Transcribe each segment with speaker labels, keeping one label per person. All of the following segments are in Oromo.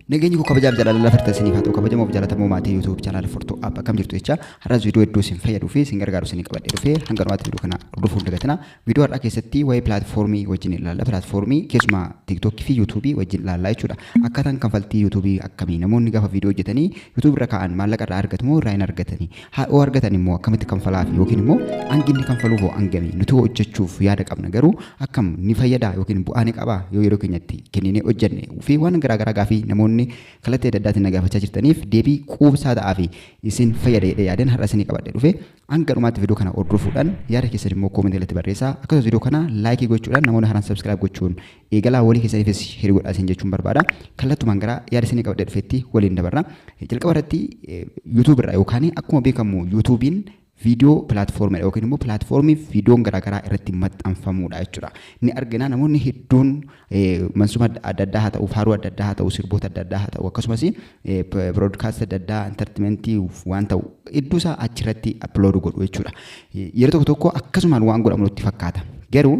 Speaker 1: Nageenyi koo kabajaaf jaalala lafa irratti isiniif haa ta'u kabajamoof jaalatamoo maatii YouTube channel Fortoo App akkam jirtu jecha har'as viidiyoo hedduu isin fayyaduu fi isin gargaaru isin qabadhee dhufee hanga dhumaatti viidiyoo kana hordofuun dagatina. Viidiyoo har'aa keessatti waa'ee pilaatfoormii wajjin ilaalla. Pilaatfoormii keessumaa TikTok fi YouTube wajjin ilaallaa jechuudha. Akkaataan kanfaltii YouTube akkamii namoonni gaafa viidiyoo hojjetanii YouTube irra kaa'an maallaqa irraa argatu moo irraa hin argatanii? Haa yoo argatan immoo akkamitti kanfalaaf yookiin immoo hangi inni kanfaluuf hoo hangami nuti hoo hojjechuuf yaada qabna garuu akkam ni fayyadaa yookiin bu'aa ni qabaa yoo yeroo keenyatti kenninee hojjenne fi waan garaagaraa gaafii namoonni kallattii adda addaatiin na gaafachaa jirtaniif deebii quubsaa ta'aa fi isin fayyada jedhee yaadeen har'a isinii qabadhe dhufe hanga dhumaatti viidiyoo kana hordofuudhaan yaada keessan immoo koomentii irratti barreessaa akkasumas viidiyoo kana laayikii gochuudhaan namoonni haaraan sabskiraayib gochuun Eegalaa walii keessaniifis share godhaa isin jechuun barbaada. Kallattumaan gara yaada isinii qabadhee dhufeetti waliin dabarra. Jalqaba irratti YouTube irraa yookaan akkuma beekamu YouTube'n viidiyoo pilaatfoormiidha yookiin immoo pilaatfoormii viidiyoon garaagaraa irratti maxxanfamuudha jechuudha. Ni argina namoonni hedduun mansuma adda addaa haa ta'u, faaruu adda addaa haa ta'u, sirboota adda addaa haa ta'u akkasumas biroodkaastii adda addaa intartimentii waan ta'u hedduusaa achirratti appilooduu godhu jechuudha. Yeroo tokko tokko akkasumaan waan godhamu nutti fakkaata. Garuu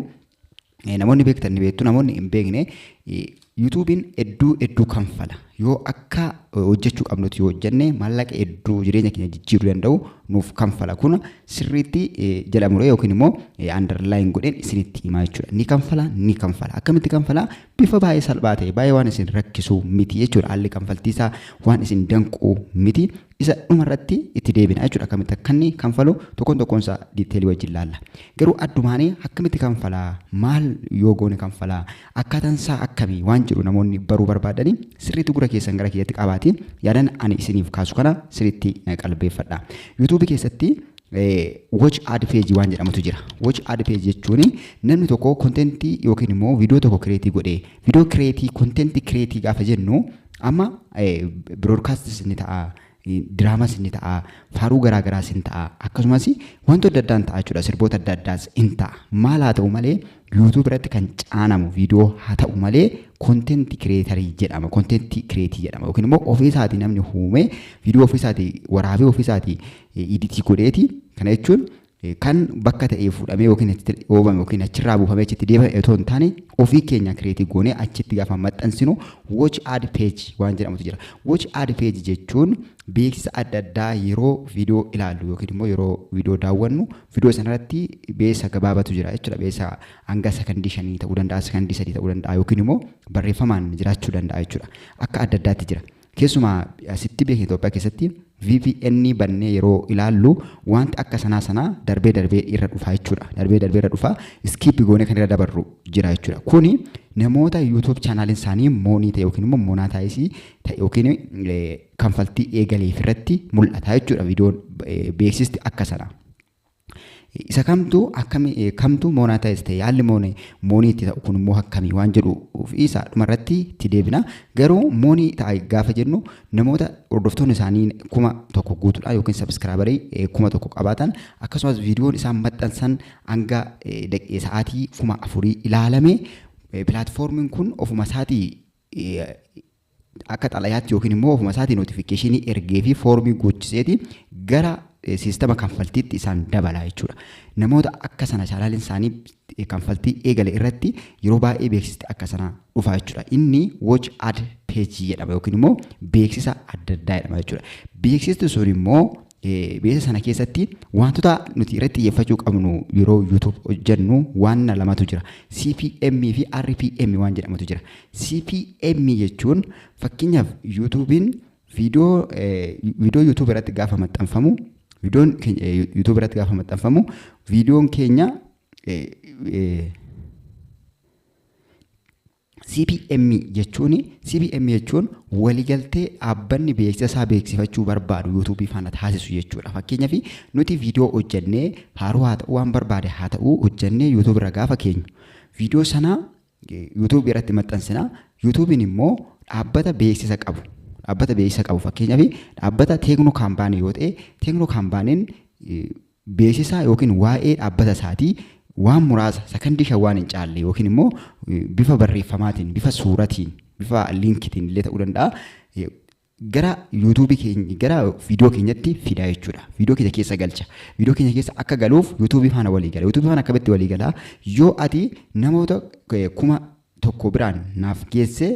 Speaker 1: Eh, Namoonni beektan ni beektu, namoonni hin beekne eh, yuutuubiin hedduu hedduu kanfala. Yoo akka eh, hojjechuu qabnutti yoo hojjenne maallaqa hedduu jireenya keenya jijjiiruu danda'u nuuf kanfala. Kun sirriitti eh, jala muree yookiin immoo underline godheen isinitti himaa jechuudha. Ni kanfala, ni kanfala. Akkamitti kanfala? Bifa baay'ee salphaa ta'e, baay'ee waan isin rakkisu miti jechuudha. Haalli kanfaltii isaa waan isin danqu miti. Isa dhuma irratti itti deebina jechuudha akkamitti akka inni kanfalu tokkoon tokkoon isaa diiteelii wajjin laalla. Garuu addumaanii akkamitti kanfalaa maal yoo goone kanfalaa akkaataan isaa akkamii waan jedhu namoonni baruu barbaadanii sirriitti gura keessan gara kiyyatti qabaatii yaadan ani isiniif kaasu kana sirriitti na qalbeeffadha. Yuutuubii keessatti watch ad page waan jedhamutu jira. Watch ad page jechuun namni tokko kontentii yookiin immoo viidiyoo tokko kireetii godhee Video create content create gaafa jennu amma broadcast isin ta'a diraamas inni ta'a faaruu garaa garaas hin ta'a akkasumas wantoota adda addaan ta'a jechuudha sirboota adda addaas hin ta'a maal haa ta'u malee yuutuub irratti kan caanamu viidiyoo haa ta'u malee kontenti kireetarii jedhama kontenti kireetii jedhama yookiin immoo ofiisaatii namni uumee viidiyoo ofiisaatii waraabee ofiisaatii iditii godheeti kana jechuun kan bakka ta'ee fuudhamee yookiin achitti dhoobame yookiin achirraa buufamee achitti deebame otoo hin taane ofii keenya kireetii goonee achitti gaafa maxxansinu watch ad page waan jedhamutu jira. Watch ad page jechuun beeksisa adda addaa yeroo viidiyoo ilaallu yookiin immoo yeroo viidiyoo daawwannu viidiyoo sanarratti beeksisa gabaabatu jira jechuudha. Beeksisa hanga sakandii shanii ta'uu danda'a, sakandii sadii ta'uu danda'a yookiin immoo barreeffamaan jiraachuu danda'a jechuudha. Akka adda addaatti jira. Keessumaa asitti biyya keenya Itoophiyaa keessatti VPN bannee yeroo ilaallu wanti akka sanaa sanaa darbee darbee irra dhufaa jechuudha. Darbee darbee irra dhufaa iskiippi goonee kan irra dabarru jira jechuudha. Kuni namoota YouTube chaanaaliin isaanii moonii ta'e yookiin immoo monaataayisii ta'e yookiin kanfaltii eegaleef irratti mul'ata jechuudha viidiyoon beeksisti akka sanaa. Isa kamtu akkami kamtu monetize ta'e haalli moonii moonii itti ta'u kun immoo akkamii waan jedhu isa dhuma irratti itti deebina. Garuu moonii ta'a gaafa jennu namoota hordoftoonni isaanii kuma tokko guutuudha yookiin sabiskiraabarii kuma tokko qabaatan akkasumas viidiyoon isaan maxxansan hanga sa'aatii kuma afurii ilaalame pilaatfoormiin kun ofuma isaatii akka xalayaatti yookiin immoo ofuma isaatii notifikashinii ergee fi foormii guuchiseeti gara siistama kanfaltiitti isaan dabala jechuudha. Namoota akka sana chaanaaliin isaanii kanfaltii eegale irratti yeroo baay'ee beeksisni akka sana dhufa jechuudha. Inni watch ad page jedhama yookiin immoo beeksisa adda addaa jedhama jechuudha. Beeksisni sun immoo Beeksisa sana keessatti wantoota nuti irratti xiyyeeffachuu qabnu yeroo YouTube hojjennu waan lamatu jira. CPM fi RPM waan jedhamutu jira. CPM jechuun fakkeenyaaf YouTube'n viidiyoo viidiyoo YouTube irratti gaafa maxxanfamu viidiyoon keenya YouTube irratti gaafa maxxanfamu viidiyoon keenya CBM jechuun CBM jechuun waligaltee dhaabbanni beeksisa isaa beeksifachuu barbaadu yuutuubii faana taasisu jechuudha. Fakkeenyaaf nuti viidiyoo hojjennee faaruu haa ta'uu waan barbaade haa ta'uu hojjennee yuutuubii irra gaafa keenyu. Viidiyoo sana yuutuubii irratti maxxansina. Yuutuubiin immoo dhaabbata beeksisa qabu. Dhaabbata beeksisa qabu fakkeenyaaf dhaabbata teeknoo kaampaanii yoo ta'e teeknoo kaampaaniin beeksisaa yookiin waa'ee dhaabbata isaatii waan muraasa sakandii shan waan hin caalle yookiin immoo bifa barreeffamaatiin, bifa suuratiin, bifa liinkitiin illee ta'uu danda'a. Gara YouTube keenya gara viidiyoo keenyatti fidaa jechuudha. Viidiyoo keenya keessa galcha. Viidiyoo keenya keessa akka galuuf YouTube faana walii gala. YouTube faana akkamitti walii gala? Yoo ati namoota kuma tokko biraan naaf geesse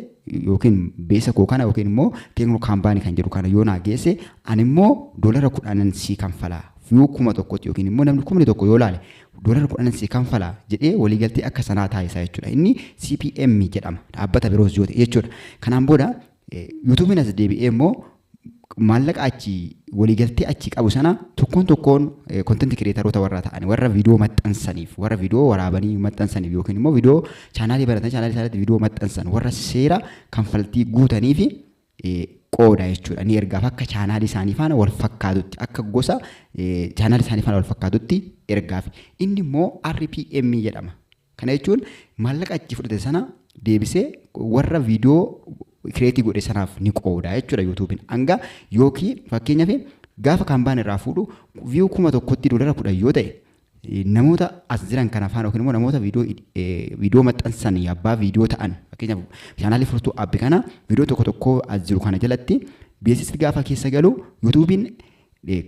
Speaker 1: yookiin beesa koo kana yookiin immoo teeknoo kaambaanii kan jedhu kana yoo naa geesse ani immoo doolara kudhanan sii kanfalaa yoo kuma tokkotti yookiin immoo namni kumni tokko yoo laale doolara kudhanan sii kanfalaa jedhee waliigaltee akka sanaa taasisaa jechuudha. Inni CPM jedhama dhaabbata biroos yoo ta'e jechuudha. Kanaan booda Yuutuubiin as deebi'ee immoo maallaqa achi waliigaltee achi qabu sana tokkoon tokkoon kontent kireetaroota warra ta'an warra viidiyoo maxxansaniif warra viidiyoo waraabanii maxxansaniif yookiin immoo viidiyoo chaanaalii baratan chaanaalii isaaniitti viidiyoo maxxansan warra seera kanfaltii guutanii fi qooda jechuudha ni ergaaf akka chaanaalii isaanii faana wal fakkaatutti akka gosa chaanaalii isaanii faana wal fakkaatutti ergaaf inni immoo RPM jedhama Kana jechuun maallaqa achi fudhate sana deebisee warra viidiyoo kireetii godhe sanaaf ni qooda jechuudha yuutuubiin. Hanga yookiin fakkeenyaaf gaafa kaambaan irraa fuudhu viiyuu kuma tokkotti doolara kudhan yoo ta'e namoota as jiran kana faana yookiin immoo namoota viidiyoo maxxansan abbaa viidiyoo ta'an fakkeenyaaf chaanaalii furtuu abbi kana viidiyoo tokko tokko as jiru kana jalatti beeksisni gaafa keessa galu yuutuubiin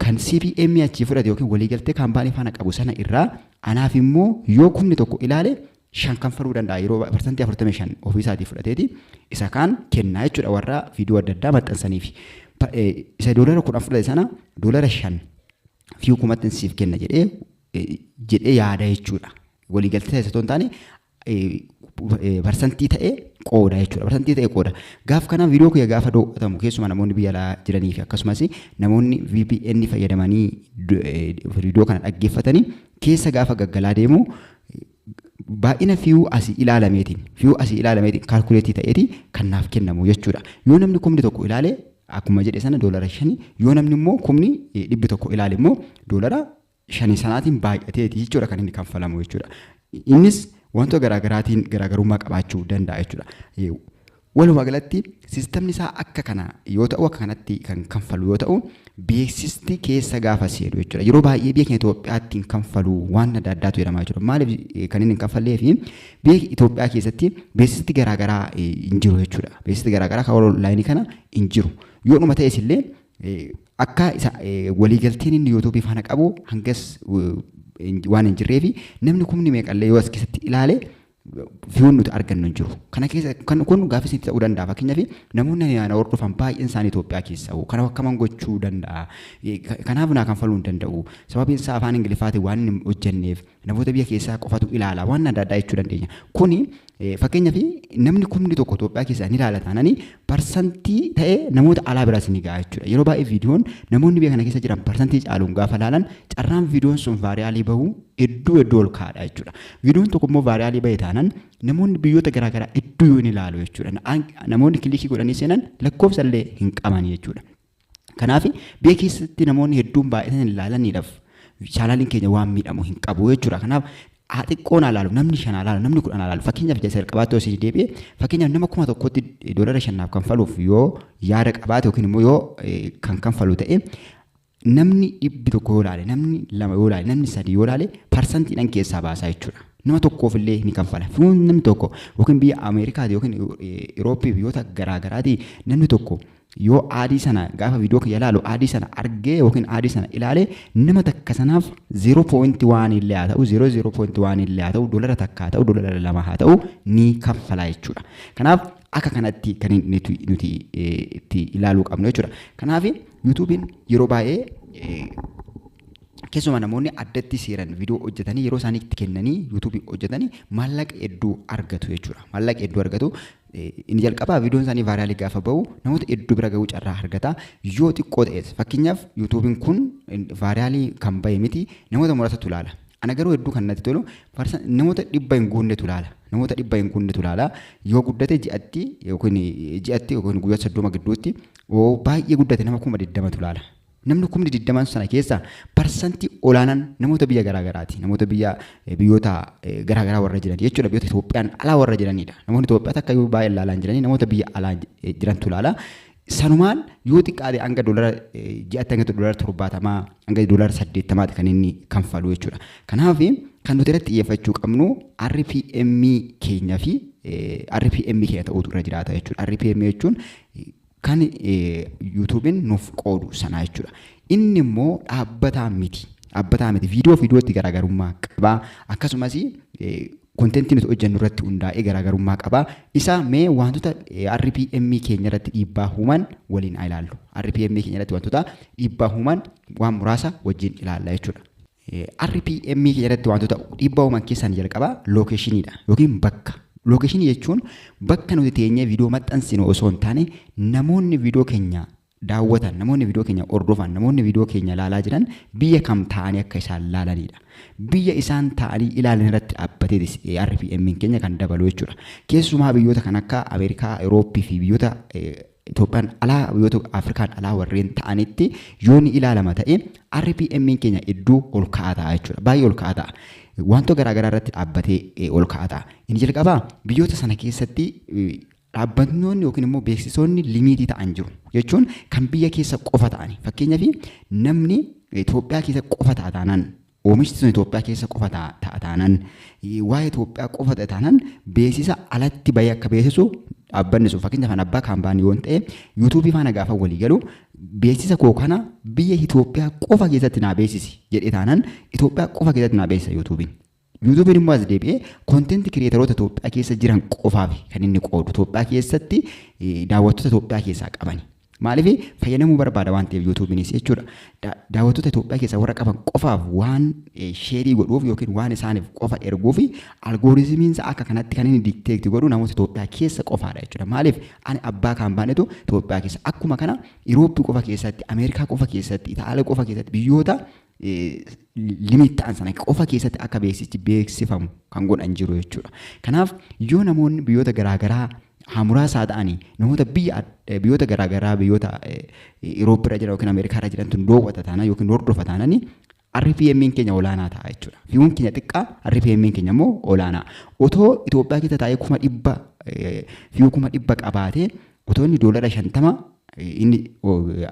Speaker 1: kan CBM achii fudhate yookiin waliigaltee kaampaanii faana qabu sana irraa anaaf immoo yoo kumni tokko ilaale shan kanfaluu danda'a yeroo parsantii afurtamii shan ofii isaatii fudhateeti isa kaan kennaa jechuudha warra viidiyoo adda addaa maxxansaniif isa doolara kudhan fudhate sana doolara shan fi kumattin siif kenna jedhee jedhee yaada jechuudha waliigaltee isa hin taane parsantii ta'e qooda jechuudha. Parsantii ta'e qooda. Gaaf kana viidiyoo kiyya gaafa do'atamu keessumaa namoonni biyya alaa jiranii fi akkasumas namoonni VPN fayyadamanii viidiyoo kana dhaggeeffatanii keessa gaafa gaggalaa deemu baay'ina fiyuu asii ilaalameetiin fiyuu asii ilaalameetiin kaalkuleetii ta'eeti kan naaf kennamu jechuudha. Yoo namni kumni tokko ilaale akkuma jedhe sana doolara shani yoo namni immoo kumni dhibbi tokko ilaale immoo doolara shanii sanaatiin baay'ateeti jechuudha kan inni kanfalamu jechuudha. Innis wantoota garaagaraatiin garaagarummaa qabaachuu danda'a jechuudha. Eh, Walumaa galatti sistamni isaa akka kana yoo ta'u akka kanatti kan kanfalu yoo ta'u beeksisti keessa gaafa seenu jechuudha. Yeroo baay'ee biyya keenya Itoophiyaatti hin kanfalu waan adda addaatu jedhama jechuudha. Maaliif eh, kan inni hin kanfallee fi biyya Itoophiyaa keessatti beeksisti garaagaraa eh, hin jiru jechuudha. Beeksisti garaagaraa kan onlaayinii kana hin jiru. Yoo dhuma ta'es illee Akka isa waliigalteen inni YouTube faana qabu hangas waan hin jirree fi namni kumni meeqallee yoo as keessatti ilaale viyuun nuti argannu hin jiru. Kana keessa kan kun gaafis itti ta'uu danda'a. Fakkeenyaaf namoonni ani ana hordofan baay'een isaanii Itoophiyaa keessa hoo kana akkaman gochuu danda'a. Kanaaf naa kanfaluu hin danda'u. Sababiin isaa afaan Ingiliffaatiin waan hin hojjenneef Namoota biyya keessaa qofatu ilaala waan adda addaa jechuu dandeenya. Kuni fakkeenyaaf namni kumni tokko Itoophiyaa keessaa ni ilaala taanani parsantii ta'e namoota alaa biraas ni ga'a jechuudha. Yeroo baay'ee viidiyoon namoonni biyya kana keessa jiran parsantii caaluun gaafa ilaalan carraan viidiyoon sun vaariyaalii bahu hedduu hedduu ol kaa'adha jechuudha. Viidiyoon tokko immoo vaariyaalii bahe taanan namoonni biyyoota garaagaraa hedduu yoo ni ilaalu jechuudha. Namoonni kilikii godhanii seenan lakkoofsa illee hin qaban jechuudha. Kanaaf biyya keessatti namoonni hedduun baay'inaan hin laalaniidhaaf chaanaaliin keenya waan miidhamu hin qabu jechuudha. Kanaaf haa xiqqoon haa laalu, namni shan haa laalu, namni kudhan haa laalu. Fakkeenyaaf isa jalqabaatti osoo isin deebi'e, fakkeenyaaf nama kuma tokkotti doolara shannaaf kanfaluuf yoo yaada qabaate yookiin immoo yoo eh, kan kanfalu ta'e namni dhibbi tokko yoo laale, namni lama yoo laale, namni sadii yoo laale parsantiidhaan keessaa baasaa jechuudha. Nama tokkoof illee ni kanfala. Fuun namni tokko yookiin biyya Ameerikaati yookiin eh, Irooppii biyyoota garaa garaati namni tokko Yoo aadii sana gaafa viidiyoo kiyya ilaalu aadii sana argee yookiin aadii sana ilaale nama takka sanaaf 0.1 illee haa ta'u 0.1 illee haa ta'u dolara takka haa ta'u dolara lama haa ta'u ni kaffalaa jechuudha. Kanaaf akka kanatti kan nuti nuti itti ilaaluu qabnu jechuudha. Kanaaf yuutuubiin yeroo baay'ee keessumaa namoonni addatti seeran viidiyoo hojjetanii yeroo isaanii itti kennanii yuutuubii hojjetanii maallaqa hedduu argatu jechuudha. Maallaqa hedduu argatu Inni jalqabaa viidiyoon isaanii vaayiraalii gaafa ba'u namoota hedduu bira ga'uu carraa argata. Yoo xiqqoo ta'es fakkeenyaaf yuutuubiin kun vaayiraalii kan ba'e miti namoota muraasatu ilaala. Ana garuu hedduu kan natti tolu namoota dhibba hin guunnetu ilaala. Namoota dhibba hin guunnetu ilaala. Yoo guddate ji'atti yookiin ji'atti yookiin guyyaa soddoma gidduutti baay'ee guddate nama kuma digdamatu ilaala. Namni kumni digdaman sana keessa parsantii olaanaan namoota biyya garaa garaati. Namoota biyya eh, biyyoota eh, garaa garaa warra jiran jechuudha. Biyyoota Itoophiyaan alaa warra jiranidha. Namoonni Itoophiyaa takka yoo baay'ee ilaalaa hin jiranii namoota biyya alaa eh, jirantu ilaala. Sanumaan yoo xiqqaate hanga doolara eh, ji'atti hanga doolara torbaatamaa hanga doolara saddeettamaati kan inni kanfalu jechuudha. Kanaaf kan nuti irratti xiyyeeffachuu qabnu RPM keenya fi eh, RPM keenya ta'uutu irra jiraata jechuudha. RPM jechuun eh, Kan YouTuben nuuf qoodu sanaa jechuudha. Inni immoo dhaabbataa miti. Dhaabbataa miti. Viidiyoo fi viidiyootti garaagarummaa qaba. Akkasumas kontentii nuti hojjennu irratti hundaa'ee garaagarummaa qaba. Isa mee wantoota RPM keenya irratti dhiibbaa uuman waliin haa ilaallu. RPM keenya irratti wantoota dhiibbaa uuman waan muraasa wajjin ilaalla jechuudha. RPM keessatti wantoota dhiibbaa uuman keessaa inni jalqabaa lookeeshiniidha yookiin bakka. Lookeeshinii jechuun bakka nuti teenyee viidiyoo maxxansinu osoo hin taane namoonni viidiyoo keenya daawwatan, namoonni viidiyoo keenya hordofan, namoonni viidiyoo keenya ilaalaa jiran biyya kam taa'anii akka isaan ilaalanidha. Biyya isaan taa'anii ilaalan irratti dhaabbateetis RPM keenya kan dabalu jechuudha. Keessumaa biyyoota kan akka Ameerikaa, Awurooppii fi biyyoota Itoophiyaan alaa yoo ta'u Afrikaan alaa warreen ta'anitti yoo ni ilaalama ta'e RPM'n keenya hedduu ol ka'aa ta'a jechuudha. Baay'ee ol ka'aa ta'a. Wantoo garaa garaa irratti dhaabbatee eh, ol ka'aa ta'a. Inni jalqabaa biyyoota sana keessatti eh, dhaabbatnoonni yookiin immoo beeksisoonni limiitii ta'an jiru. Jechuun kan biyya keessa qofa ta'ani. Fakkeenyaaf namni Itoophiyaa keessa qofa ta'a taanaan Oomishti sun Itoophiyaa keessa qofa ta'a taanaan, waa'ee Itoophiyaa qofa ta'e taanaan beeksisa alatti bahee akka beeksisu dhaabbanni sun fakkeenyaaf an abbaa kaampaanii yoon ta'e yuutuubii faana gaafa walii galu beeksisa koo kana biyya Itoophiyaa qofa keessatti naa beeksisi jedhee taanaan Itoophiyaa qofa keessatti naa beeksisa yuutuubiin. Yuutuubiin immoo as deebi'ee kontenti kireetaroota Itoophiyaa keessa jiran qofaaf kan inni qoodu Itoophiyaa keessatti daawwattoota Itoophiyaa keessaa qabani. Maaliif fayyadamuu barbaada waan ta'eef yuutuubiinis jechuudha. Da- Daawwattoota Itoophiyaa keessaa warra qaban qofaaf waan eh, sheerii godhuuf yookiin waan isaaniif qofa erguuf algooriizimiin isaa akka kanatti kan inni dikteekti godhu namoota Itoophiyaa keessa qofaadha jechuudha. Maaliif ani abbaa kan baanetu Itoophiyaa keessa akkuma kana Irooppii qofa keessatti, Ameerikaa qofa keessatti, Itaaliyaa qofa keessatti biyyoota limit ta'an sana qofa keessatti akka beeksichi beeksifamu kan godhan jiru jechuudha. Kanaaf yoo namoonni biyyoota garaagaraa haamuraasaa ta'anii namoota biyya biyyoota garaagaraa biyyoota Irooppii irra jiran yookiin Ameerikaa irra jirantu doowwata taanaan yookiin hordofa taananii RPM'n keenya olaanaa ta'a jechuudha. Viiwuun keenya xiqqaa RPM'n keenya immoo olaanaa. Otoo Itoophiyaa keessa taa'ee kuma dhibba viiwuu kuma dhibba qabaatee Otoo inni doolara shantama inni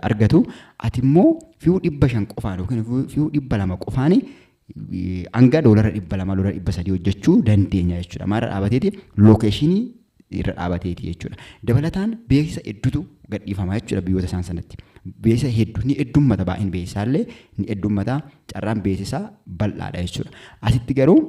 Speaker 1: argatu ati immoo fi'uu dhibba shan qofaan yookiin fi'uu dhibba lama qofaan hanga doolara dhibba lama doolara dhibba sadii hojjechuu dandeenya jechuudha. Maal irra dhaabateeti lookeeshinii irra dhaabateeti jechuudha. Dabalataan beeksisa hedduutu gadhiifama jechuudha biyyoota isaan sanatti. Beeksisa hedduu ni heddummata baay'een beeksisaa illee ni heddummata carraan beeksisaa bal'aadha jechuudha. Asitti garuu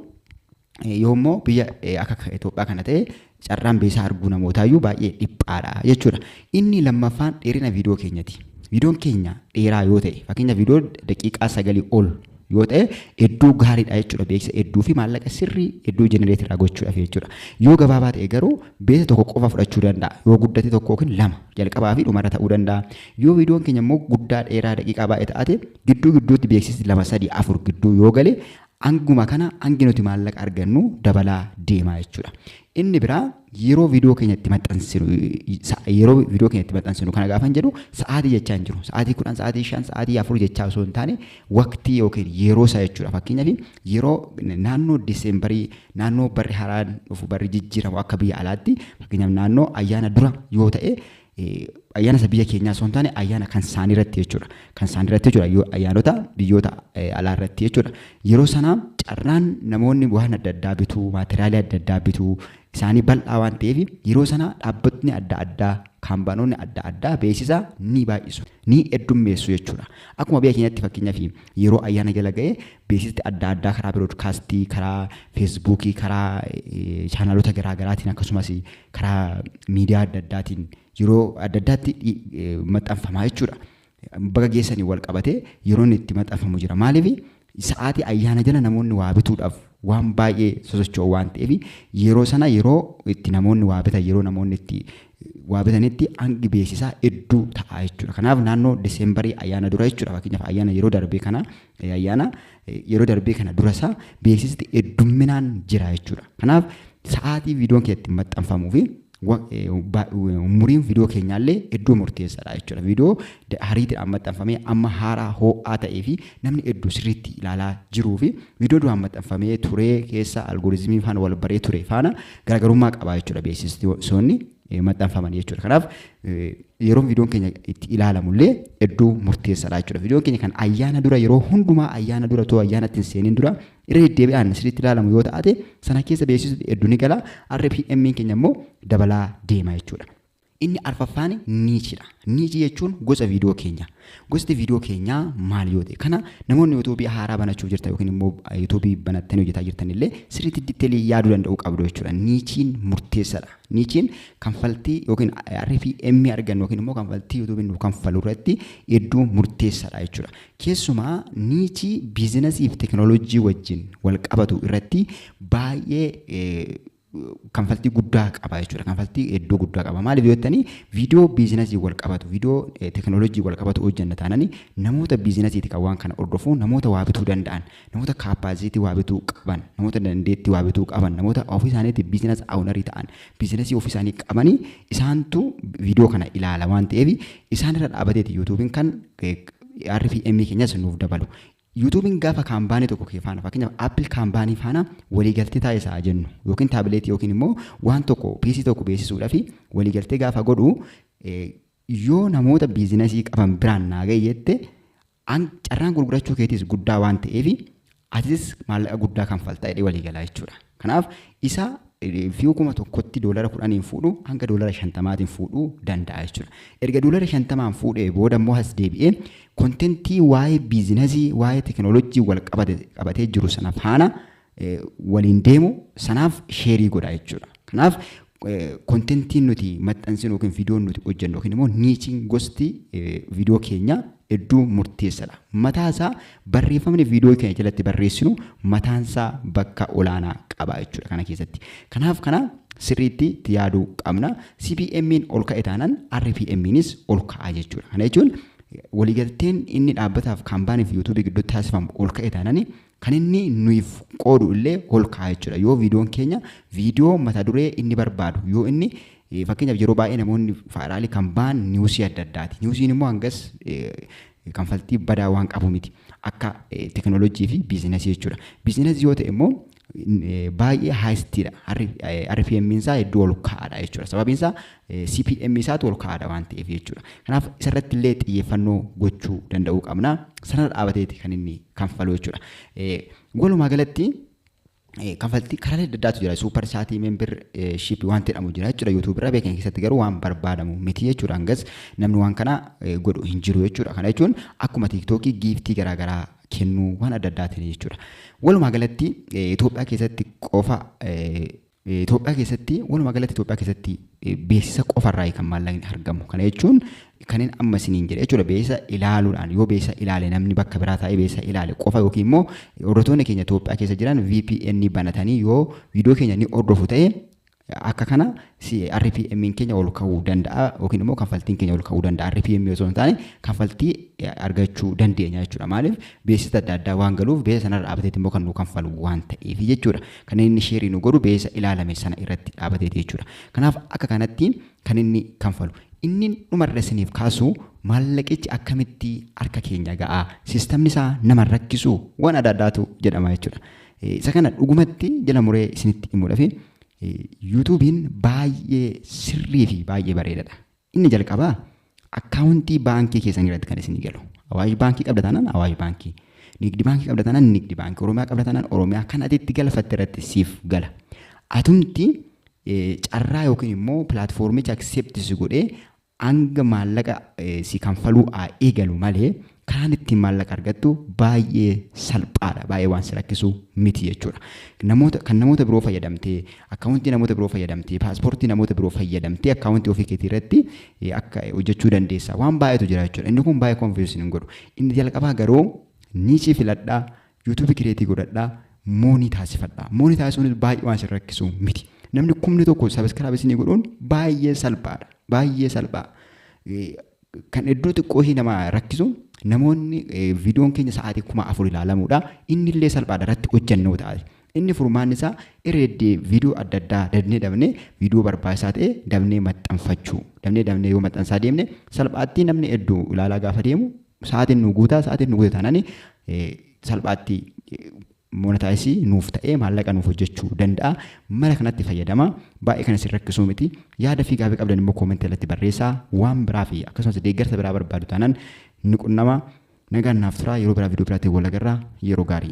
Speaker 1: Yoo immoo biyya akka Itoophiyaa kana ta'e carraan beesaa arguu namootaayyuu baay'ee dhiphaadha jechuudha. Inni lammaffaan dheerina viidiyoo keenyati. Viidiyoon keenya dheeraa yoo ta'e fakkeenya viidiyoo daqiiqaa sagalii ol yoo ta'e hedduu gaariidha jechuudha. Beeksisa hedduu fi maallaqa sirrii hedduu jenereetiraa gochuudhaaf jechuudha. Yoo gabaabaa ta'e garuu beesa tokko qofa fudhachuu danda'a. Yoo guddate tokko yookiin lama jalqabaa fi dhumarra ta'uu danda'a. Yoo viidiyoon keenya immoo guddaa dheeraa daqiiqaa baay'ee ta'ate gidduu gidduutti beeksisni lama sadii afur gidduu yoo gale Hanguma kana hangi nuti maallaqa argannu dabalaa deemaa jechuudha. Inni biraa yeroo viidiyoo keenya itti maxxansinu yeroo viidiyoo keenya itti maxxansinu kana gaafan jedhu sa'aatii jechaa hin jiru. Sa'aatii kudhan, sa'aatii shan, sa'aatii afur jechaa osoo hin taane waqtii yookiin yeroo isaa jechuudha. Fakkeenyaaf yeroo naannoo Diseembarii naannoo barri haraan dhufu barri jijjiiramu akka biyya alaatti fakkeenyaaf naannoo ayyaana dura yoo ta'e ayyaana isa biyya keenyaa osoo hin taane ayyaana kan isaanii irratti jechuudha. Kan isaanii irratti jechuudha yoo ayyaanota biyyoota alaa irratti jechuudha. Yeroo sana carraan namoonni waan adda addaa bituu, maateriyaalii adda addaa bituu isaanii bal'aa waan ta'eef yeroo sana dhaabbatni adda addaa kaampaanoonni adda addaa beeksisa ni baay'isu, ni heddummeessu jechuudha. Akkuma biyya keenyatti fakkeenyaaf yeroo ayyaana jala ga'e beeksisni adda addaa karaa biroodkaastii, karaa feesbuukii, karaa chaanaalota garaa garaatiin akkasumas karaa miidiyaa adda addaatiin yeroo adda addaatti maxxanfamaa jechuudha. Baga geessaniin wal qabatee yeroon itti maxxanfamu jira. Maaliif sa'aatii ayyaana jala namoonni waa bituudhaaf waan baay'ee sosocho'u waan ta'eef yeroo sana yeroo itti namoonni waa bitan yeroo namoonni itti waa bitanitti hangi beeksisaa hedduu ta'a jechuudha. Kanaaf naannoo Diseembarii ayyaana dura jechuudha fakkeenyaaf ayyaana yeroo darbee kana Ayyaana yeroo darbee kana dura isaa beeksisni heddumminaan jira jechuudha. Kanaaf sa'aatii viidiyoon kee itti maxxanfamuu fi umuriin viidiyoo keenyaallee hedduu murteessaadha jechuudha. Viidiyoo hariitiidhaan maxxanfamee amma haaraa hoo'aa ta'ee fi namni hedduu sirriitti ilaalaa jiruu fi viidiyoo duraan maxxanfamee turee keessa algooriizimii faana wal baree ture faana garaagarummaa qaba jechuudha beeksistoonni. eh, maxxanfaman jechuudha. Kanaaf eh, yeroo viidiyoon keenya itti ilaalamullee iddoo murteessaadha jechuudha. Viidiyoon keenya kan ayyaana dura yeroo hundumaa ayyaana dura too ayyaana ittiin seenin dura irra deddeebi'aan sirriitti ilaalamu yoo ta'ate sana keessa beeksisni hedduu ni gala. RPM keenya immoo dabalaa deema jechuudha. Inni arfaffaan niichidha. Niichi jechuun gosa viidiyoo keenya. Gosti viidiyoo keenyaa maal yoo ta'e kana namoonni yuutuubii haaraa banachuuf jirtan yookiin immoo yuutuubii banattanii hojjetaa jirtan illee sirriitti ditteelii yaaduu danda'uu qabdu jechuudha. Niichiin murteessaadha. Niichiin kanfaltii yookiin RFM argannu yookiin immoo kanfaltii yuutuubiin nu kanfalu irratti iddoo murteessaadha jechuudha. Keessumaa niichii biizinasii fi teekinooloojii wajjin wal qabatu irratti baay'ee kanfaltii guddaa qaba jechuudha. Kanfaltii hedduu guddaa qaba. Maaliif yoo jettanii viidiyoo biizinasii wal qabatu, viidiyoo teekinooloojii wal qabatu hojjenna taanani namoota biizinasiiti kan waan kana hordofu, namoota waa bituu danda'an, namoota kaappaasiitii waa bituu qaban, namoota dandeettii waa bituu qaban, namoota ofii isaaniitti biizinas awunarii ta'an, biizinasii ofii isaanii qabanii isaantu viidiyoo kana ilaala waan ta'eef isaanirra dhaabateeti yuutuubiin kan RFM keenyas nuuf dabalu. Yuutuubiin gaafa kaampaanii tokko kee faana fakkeenyaaf Apple kaampaanii faana waliigaltee taasisa haa jennu yookiin taabileetii yookiin immoo waan tokko PC tokko beeksisuudhaaf waliigaltee gaafa godhu yoo namoota biizinasii qaban biraan naa ga'e jette carraan gurgurachuu keetiis guddaa waan ta'eef atis maallaqa guddaa kanfaltaa jedhee waliigalaa jechuudha. Kanaaf isa view 1000tti doolara 10n fuudhu hanga doolara 50tiin fuudhuu danda'a jechuudha. Erga doolara 50n fuudhee booda immoo as deebi'ee kontentii waa'ee biizinasii waa'ee tekinooloojii wal qabate qabatee jiru sana faana eh, waliin deemu sanaaf sheerii godha jechuudha. Kanaaf kontentiin nuti maxxansinu yookiin viidiyoon nuti hojjennu yookiin immoo niichiin gosti viidiyoo keenya hedduu murteessadha. Mataa isaa barreeffamni viidiyoo keenya jalatti barreessinu mataan isaa bakka olaanaa qaba jechuudha kana keessatti. Kanaaf kana sirriitti itti yaaduu qabna. CPM'n ol ka'e taanaan RPM'nis ol ka'a jechuudha. Kana jechuun waliigalteen inni dhaabbataaf kaampaanii fi yuutuubii gidduutti taasifamu ol ka'e taanaan Kan inni nuyiif qoodu illee ol kaa'a jechuudha. Yoo viidiyoon keenya viidiyoo mata duree inni barbaadu yoo inni fakkeenyaaf yeroo baay'ee namoonni faayiraalii kan ba'an niwusii adda addaati. Niwusiin immoo hangas kanfaltii badaa waan qabu miti. Akka teekinooloojii fi biizinasii jechuudha. Biizinasii yoo ta'e immoo baay'ee haayistiidha. RPM isaa hedduu ol ka'aadha jechuudha. Sababiin isaa CPM isaatu ol ka'aadha waan ta'eef jechuudha. Kanaaf isarratti illee xiyyeeffannoo gochuu danda'uu qabna. Sanarra dhaabateeti kan inni kanfalu jechuudha. Walumaa galatti kanfaltii karaalee adda addaatu jira. Suupar saatii membir shiipi waan jedhamu jira jechuudha. Yuutuubii irraa beekan keessatti garuu waan barbaadamu miti jechuudha. Hangas namni waan kana godhu hin jiru jechuudha. Kana jechuun akkuma tiiktookii giiftii garaagaraa kennuu waan adda addaatiin jechuudha. Walumaa galatti Itoophiyaa keessatti qofa Itoophiyaa keessatti walumaa galatti Itoophiyaa keessatti beeksisa qofa irraa kan maallaqni argamu. Kana jechuun kanneen amma isiniin jedhe jechuudha beeksisa ilaaluudhaan yoo beeksisa ilaale namni bakka biraa taa'ee beeksisa ilaale qofa yookiin immoo hordoftoonni keenya Itoophiyaa keessa jiran VPN banatanii yoo viidiyoo keenya ni hordofu ta'e akka kana RPM keenya ol ka'uu danda'a yookiin immoo kanfaltiin keenya ol ka'uu danda'a RPM osoo hin taane kanfaltii argachuu dandeenya jechuudha maaliif beeksisa adda addaa waan galuuf beeksisa sanarra dhaabateetti immoo kan nu kanfalu waan ta'eef jechuudha. Kan inni sheerii nu godhu beeysa ilaalame sana irratti dhaabateeti jechuudha. Kanaaf akka kanatti kan inni kanfalu. Inni dhuma irra isiniif kaasu maallaqichi akkamitti harka keenya ga'a? Sistamni isaa nama hin rakkisuu? Waan adda addaatu jedhama jechuudha. Isa kana dhugumatti jala muree isinitti himuudhafi Yuutuubiin baay'ee sirrii fi baay'ee bareedadha. Inni jalqabaa akkaawuntii baankii keessanii irratti kan isinii galu. Awaash baankii qabda taanaan awaash baankii. Nigdi baankii qabda taanaan nigdi baankii. Oromiyaa qabda taanaan Oromiyaa kan ati itti galfatte irratti siif gala. Atumti eh, carraa yookiin immoo pilaatfoormicha akseepti si godhee hanga maallaqa eh, si kanfaluu haa eegalu malee Karaan ittiin maallaqa argattu baay'ee salphaadha. Baay'ee waan si rakkisu miti jechuudha. Namoota, kan namoota biroo fayyadamtee, akkaawuntii namoota biroo fayyadamtee, paaspoortii namoota biroo fayyadamtee akkaawuntii ofii keetii irratti eh, akka eh, hojjechuu dandeessa. Waan baay'eetu jira jechuudha. Inni kun baay'ee konfiyuus hin godhu. Inni jalqabaa garuu niichii filadhaa, yuutuubii kireetii godhadhaa, moonii taasifadhaa. Moonii taasisuunis baay'ee waan si rakkisu miti. Namni kumni tokko sabiskiraabisni godhuun baay'ee salphaadha. Baay'ee salphaa. Eh, Kan hedduu xiqqoo ishii nama rakkisu namoonni viidiyoon keenya sa'aatii kuma afur ilaalamuudha. Inni illee salphaadha irratti hojjannoo ta'a. Inni furmaanni isaa irreeddee viidiyoo adda addaa dabnee dabnee viidiyoo barbaachisaa ta'e dabnee maxxanfachuu. Dabnee dabnee yoo maxxansaa deemne salphaatti namni hedduu ilaalaa gaafa deemu sa'aatiin nu guutaa sa'aatiin nu guuta taanani salphaatti monetize nuuf ta'ee maallaqa nuuf hojjechuu danda'a. Mala kanatti fayyadama. Baay'ee kan isin rakkisuu miti. Yaada fi gaafii qabdan immoo comment jalatti barreessaa. Waan biraa fi akkasumas deeggarsa biraa barbaadu taanaan nu qunnama. Nagaan naaf turaa yeroo biraa viidiyoo biraatiin wal agarra yeroo gaarii.